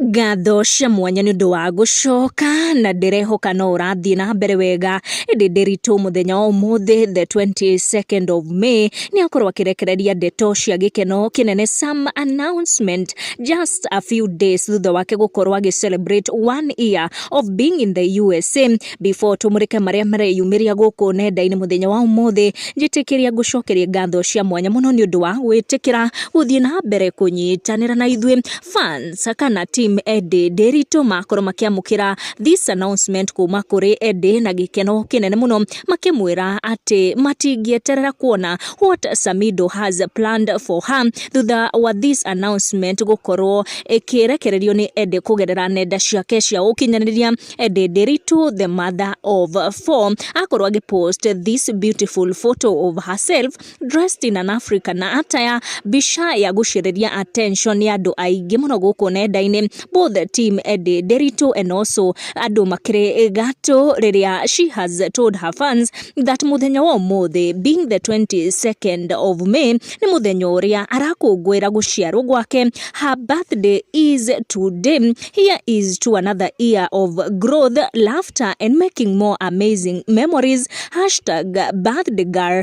Ngatho cia mwanya nĩ ũndũ wa gũcoka, na ndĩrehoka no ũrathiĩ na mbere wega, ĩndĩ ndĩritũ mũthenya wa ũmũthĩ the 22nd of May, nĩ akorwo akĩrekereria ndeto cia gĩkeno kĩnene some announcement just a few days thutha wake gũkorwo agĩ celebrate one year of being in the USA. Before tũmũrĩke marĩa mareyumĩria gũkũ nenda-inĩ mũthenya wa ũmũthĩ, njĩtĩkĩria ngũcokerie ngatho cia mwanya mũno nĩ ũndũ wa gwĩtĩkĩra gũthiĩ na mbere kũnyitanĩra na ithuĩ fans kana team Eddie Ndiritu makorwo makĩamũkĩra this announcement kuma kũrĩ Eddie na gĩkeno kĩnene mũno makĩmwĩra atĩ matingĩeterera kuona what Samido has planned for her thutha wa this announcement gũkorwo ĩkĩrekererio nĩ Eddie kũgerera nenda ciake cia ũkinyanĩria Eddie Ndiritu the mother of four akorwo agĩpost this beautiful photo of herself dressed in an African na ataya mbica ya gũcĩrĩria attention ya andũ aingĩ mũno gũkũ nenda-inĩ both the team Eddie Nderitu and also andũ makĩrĩ gatũ rĩrĩa she has told her fans that mũthenya wa ũmũthĩ being the 22nd of May nĩ mũthenya ũrĩa arakũngũĩra gũciarwo gwake her birthday is today here is to another year of growth laughter and making more amazing memories hashtag birthday girl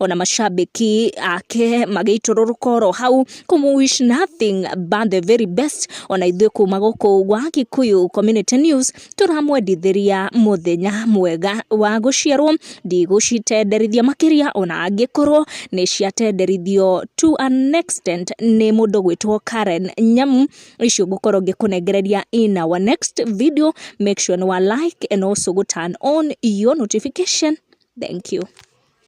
ona macambĩki ake magĩitũrũrũka oro hau kũmũ wish nothing but the very best ona ithuĩ kuma gũkũ gwa Gĩkũyũ Community News tũramwendithĩria mũthenya mwega wa gũciarwo ndigũcitenderithia makĩria ona angĩkorwo nĩ ciatenderithio to an extent nĩ mũndũ gwĩtwo Karen Nyamu icio ngũkorwo ngĩkũnengereria in our next video make sure nĩ wa like and also go turn on your notification thank you